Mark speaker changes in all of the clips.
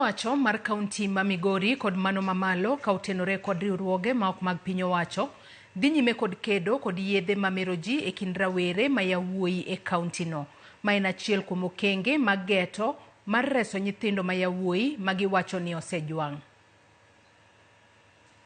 Speaker 1: owacho mar kaunti ma Migori kod mano mamalo ka otenore kod riwruoge ma ok mag piny owacho dhi nyime kod kedo kod yedhe ma mero ji e kind rawere ma yawuoyi e kaunti no ma en achiel kuom okenge mag geto mar reso nyithindo ma yawuoyi ma giwacho ni osejwang'.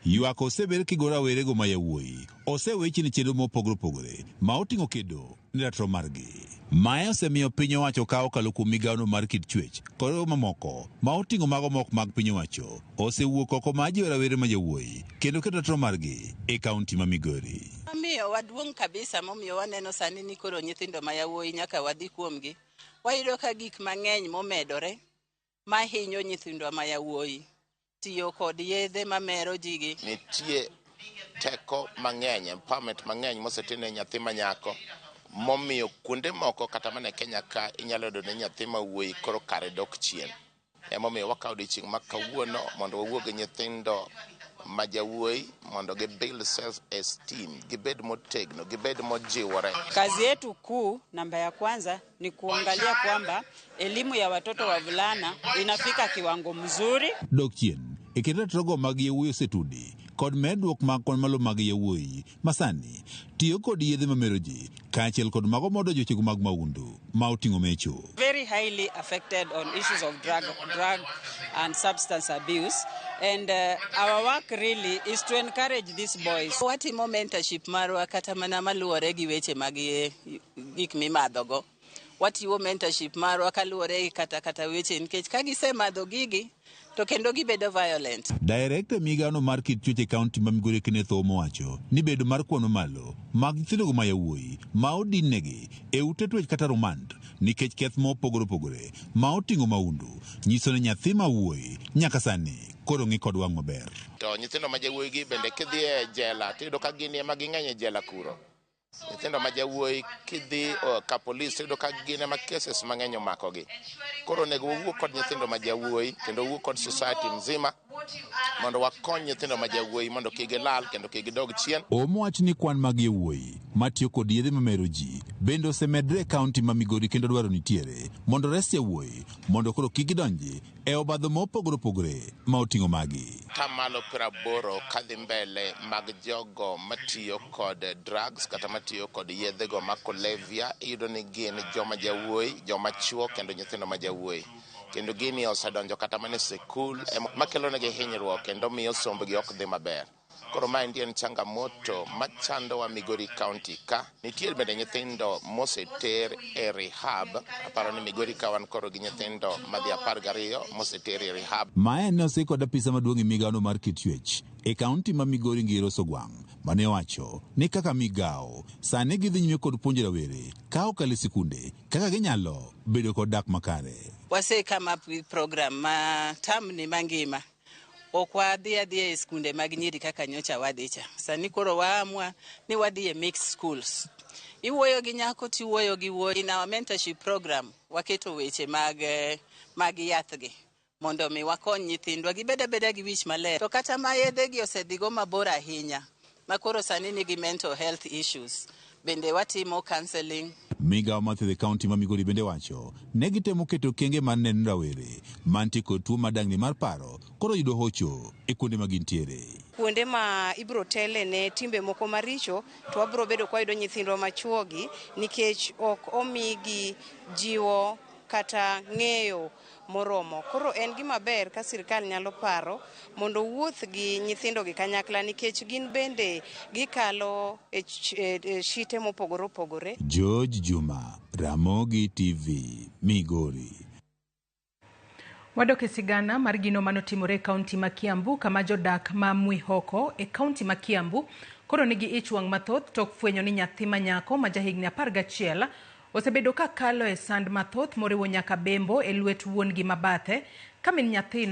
Speaker 2: Ywak osewer kigo rawerego ma yawuoyi osewechni chenro mopogre opogre ma oting'o kedo ne ratiro margi. Mae osemiyo piny owacho ka okalo kuom migawono mar kit chwech kod mamoko ma oting'o mago ma ok mag piny owacho osewuok oko ma jiwo rawere ma yawuoyi kendo kedo ratiro margi e kaunti ma Migori. Gima miyo waduong'
Speaker 3: kabisa momiyo waneno sani ni koro nyithindo ma yawuoyi nyaka wadhi kuomgi, wayudo ka gik mang'eny momedore ma hinyo nyithindwa ma yawuoyi, tiyo kod yedhe ma mero ji gi. Nitie
Speaker 4: teko mang'eny, empowerment mang'eny mosetim ne nyathi ma nyako momiyo kuonde moko kata mana e Kenya ka inyalo yudo ni nyathi ma wuoyi koro kare dok chien. Emomiyo wakawo odiochieng' ma kawuono mondo wawuo gi nyithindo ma jawuoyi mondo gi build self esteem, gibed motegno, gibed mojiwore. Kazi yetu
Speaker 5: kuu namba ya kwanza ni kuangalia kwamba elimu ya watoto wavulana inafika kiwango mzuri. Dok chien
Speaker 2: e kit ratogo mag yawuoyi osetudi kod medruok mag kwan malo mag yawuoyi masani tiyo kod yedhe mamero ji kaachiel kod mago modo jochego mag maundu ma oting'o mecho. Very highly
Speaker 5: affected on issues of drug, drug and substance abuse and uh, our work really is to encourage these boys. Watimo mentorship
Speaker 3: marwa kata mana maluwore gi weche mag gik mimadho go. Watiwo mentorship marwa kaluwore gi kata kata weche nikech ka gisemadho gigi to kendo gibedo violent. Director e migao
Speaker 2: no mar kit chuech e county ma Migori Kenneth Oumo owacho ni bedo mar kwano malo mag nyithindo go ma yawuoyi ma odin negi e ute tuech kata rumand nikech keth ma opogore opogore ma otingo maundu nyiso ni nyathi ma wuoyi nyaka sani koro ng'i kod wang' maber. To nyithindo ma jawuoyi
Speaker 4: gi bende kidhi e jela tiyudo ka gini ema ging'eny e jela kuro. nyithindo ma jawuoyi kidhi uh, ka polis tiyudo ka gin ema cases mang'eny omakogi koro onego wawuo kod nyithindo ma jawuoyi kendo wawuo kod society mzima mondo wakony nyithindo ma jawuoyi mondo kik gilal kendo kik gidog chien omo wach ni kwan
Speaker 2: mag yawuoyi matiyo kod yedhe mamero ji bende osemedre e kaunti ma migori kendo dwaro nitiere mondo res yawuoyi mondo koro kik gidonji e obadho ma opogore opogore ma oting'o magi. Tamalo piero
Speaker 4: aboro kadhi mbele mag jogo matiyo kod drugs kata matiyo kod yedhe go ma kulevya iyudo ni gin joma jawuoyi, joma chuo kendo nyithindo ma jawuoyi. Kendo gini osedonjo kata mana e sikul, makelo negi hinyruok kendo miyo sombgi ok dhi maber. Koro maendi en changamoto machandowa Migori County ka. Nitiere bende nyithindo moseter e rehab. Aparo ni Migori ka wan koro gi nyithindo madhi apar gariyo moseter e rehab. Mae ne osik kod
Speaker 2: apisa maduong' e migawono mar kit chuech e kaunti ma Migori Ngir Osogwang' mane owacho ni kaka migawo, sani gidhi nyime kod puonjo rawere ka okalo e sikunde kaka ginyalo bedo kod dak makare. Wase come up
Speaker 3: with program ma term ni mangima Ok wadhi adhiya e skunde mag nyiri kaka nyocha wadhi cha. Sani koro waamua ni wadhi e mixed schools. Iwuoyo gi nyako tiwuoyo gi wuoyi na mentorship program waketo weche mag eh, mag yathgi mondo mi wakony nyithindwa gibed abeda gi wich maler. To kata ma yedhegi osedhigo mabor ahinya ma koro sani nigi mental health issues bende watimo counseling. Migao ma thiedhe
Speaker 2: kaunti ma Migori bende wacho ne gitemo keto okenge mar neno ni rawere mantie kod tuo ma dang'ni mar paro koro yudo hocho e kuonde ma gintiere. kuonde ma
Speaker 6: ibiro tele ne timbe moko maricho to wabiro bedo ka wayudo nyithindwa machuogi nikech ok omigi jiwo kata ng'eyo moromo. Koro en gima ber ka sirkal nyalo paro mondo owuoth gi nyithindogi kanyakla nikech gin bende gikalo e shite mopogore opogore. George Juma,
Speaker 2: Ramogi TV, Migori.
Speaker 1: Wadok e sigana mar gino mane otimore e kaunti ma Kiambu kama jodak ma Mwihoko e kaunti ma Kiambu koro nigi ich wang' mathoth tok fwenyo ni nyathi ma nyako ma jahigni apar gachiel Osebedo ka kalo e sand mathoth moriwo nyaka bembo e lwet wuon-gi ma bathe. Ka min nyathino.